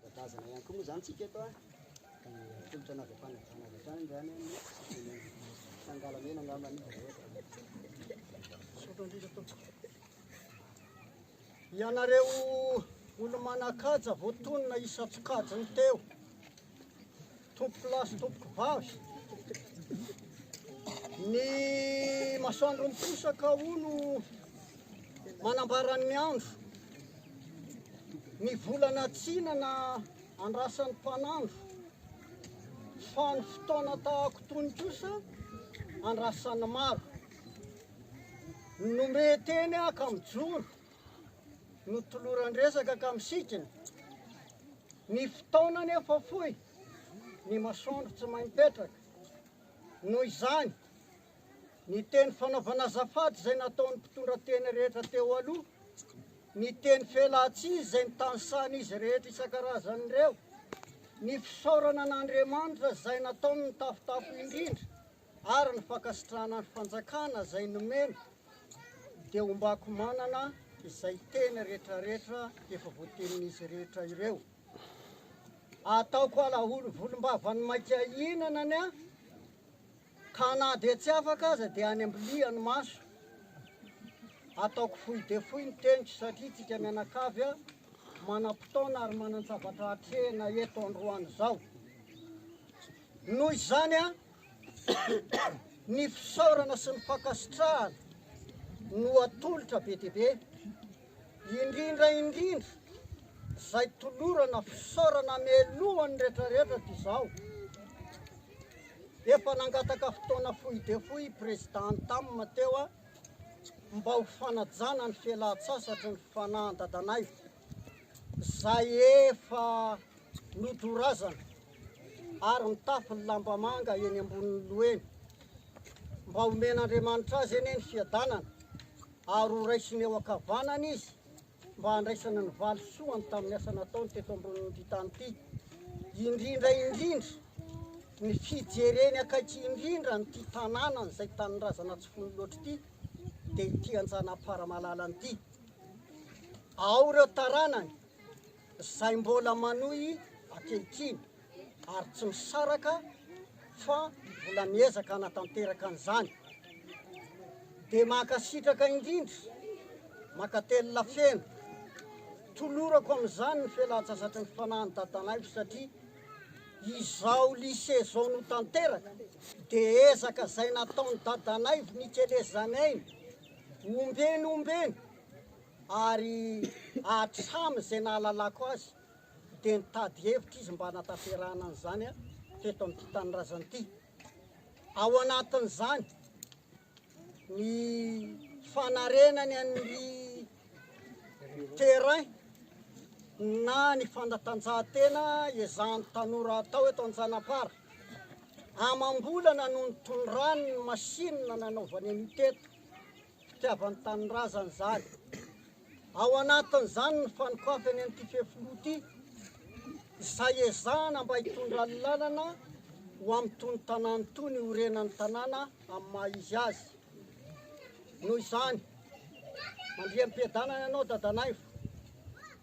Ara-drazana ihany koa moa izany tsika eto an, dia tolotra anao avy hatrany hatrany avy hatrany izany an, ny fangalamena angamba anie vao eo izany. Misaotra indrindra tompoko. Ianareo olo-manan-kaja voatonona isan-tsokajiny teo. Tompoko lahy sy tompoko vavy, ny masoandro miposaka hono manambara ny andro, ny volana tsinana andrasan'ny mpanandro, fa ny fotoana tahako itony kosa andrasan'ny maro. Nomey teny aho ka mijoro. Notoloran-dresaka ka misikina Ny fotoana anefa fohy Ny masoandro tsy mahay mipetraka Noho izany Ny teny fanaovana azafady izay nataon'ny mpitondra teny rehetra teo aloha Ny teny fialan-tsiny izay nitanisahan'izy rehetra isan-karazany ireo Ny fisaorana an'Andriamanitra izay nataony nitafotafo indrindra ary ny fankasitrahana ny fanjakana izay nomena dia hombako manana izay teny rehetrarehetra efa voatenin'izy rehetra ireo ataoko ala volombavan'ny maika hinana ny ahy ka na dia tsy afaka aza dia any ambiliha ny maso ataoko fohy dia fohy ny teniko satria tsika mianakavy a manam-potoana ary manan-javatra hatrehina eto androany izao noho izany a Ny fisaorana sy ny fankasitrahana no atolotra be dia be, indrindra indrindra izay tolorana fisaorana mialoha ny rehetra rehetra toy izao. Efa nangataka fotoana fohy dia fohy i Président Tam teo mba ho fanajana ny fialan-tsasatry ny fanahan-dadanay izay efa nodorazana. ary mitafy ny lamba manga eny ambonin'ny loha eny. Mba omen'Andriamanitra azy anie ny fiadanana, ary ho raisiny eo ankavanana izy, mba handraisana ny valisoany tamin'ny asa nataony teto ambonin'ity tany ity. Indrindra indrindra, ny fijereny akaiky indrindra an'ity tanàna izay tanindrazana tsy fony loatra ity, dia ity Anjanahaparamalala ity. Ao ireo taranany, izay mbola manohy ankehitriny ary tsy misaraka fa mbola miezaka hanatanteraka an'izany dia mankasitraka indrindra mankatelina feno tolorako amin'izany ny fialantsasatry ny fanahin'ny dadanaivo satria izao lycée zao no tanteraka dia ezaka izay nataon'ny dadanaivo nikelezanainy ombeny ombeny ary hatramin'izay nahalalako azy dia nitady hevitra izy mba hanatanterahana an'izany teto amin'ity tanindrazana ity. Ao anatin'izany ny fanarenany an'ny terrain na ny fanatanjahantena ezahan'ny tanora atao eto Antsanapara. Amam-bolana no nitondrany ny machine nanaovany an'io teto. fitiavan'ny tanindrazany izany. Ao anatin'izany ny fanokafany an'ity fefiloha ity, izay ezahana mba hitondra ny lalana ho amin'itony tanàna itony iorenan'ny tanàna amin'ny maha izy azy. Noho izany, mandriam-piadanana ianao Dadanaivo,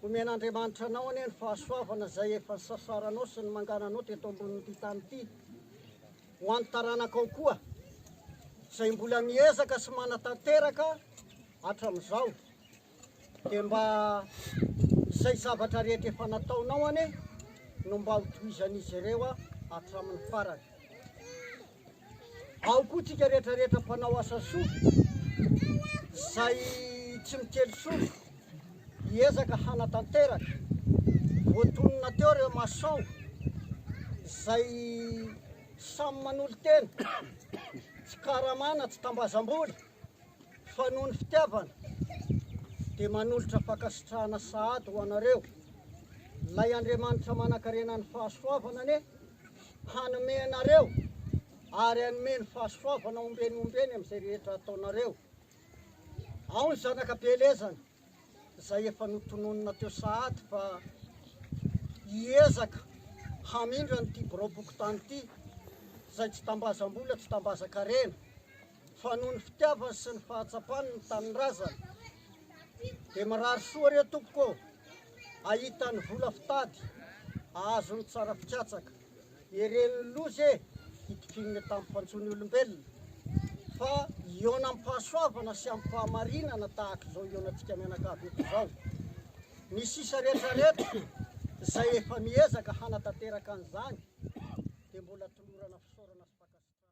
omen'Andriamanitra anao anie ny fahasoavana izay efa nisasaranao sy ny mangananao teto ambonin'ity tany ity. Ho an'ny taranakao koa, izay mbola miezaka sy manatanteraka hatramin'izao, dia mba izay zavatra rehetra efa nataonao anie no mba ho tohizan'izy ireo hatramin'ny farany. Ao koa tsika rehetra rehetra mpanao asa soa, izay tsy mikely soa, Hiezaka hanatanteraka. Voatonona teo ireo maçons izay samy manolo-tena, tsy karama na tsy tambazam-bola fa noho ny fitiavana dia manolotra fankasitrahana sahady ho anareo. Ilay Andriamanitra manankarena ny fahasoavana anie hanome anareo ary hanome ny fahasoavana ombieny ombieny amin'izay rehetra ataonareo. Ao ny zanaka Belezana izay efa notononina teo sahady fa hiezaka hamindra an'ity biraom-pokontany ity izay tsy tambazam-bola, tsy tambazan-karena fa noho ny fitiavany sy ny fahatsapany ny tanindrazana. Dia mirary soa re tompoko ô, ahita ny vola fitady, ahazo ny tsara fikatsaka. Eren'ny loza e! Hitikinin'ny tampoka antsoy ny olombelona fa hihaona am-pahasoavana sy am-pahamarinana tahaka izao hihaonantsika mianakavy eto izao. Ny sisa rehetra rehetra izay efa miezaka hanatanteraka an'izany dia mbola tolorana fisaorana sy fankasitrahana.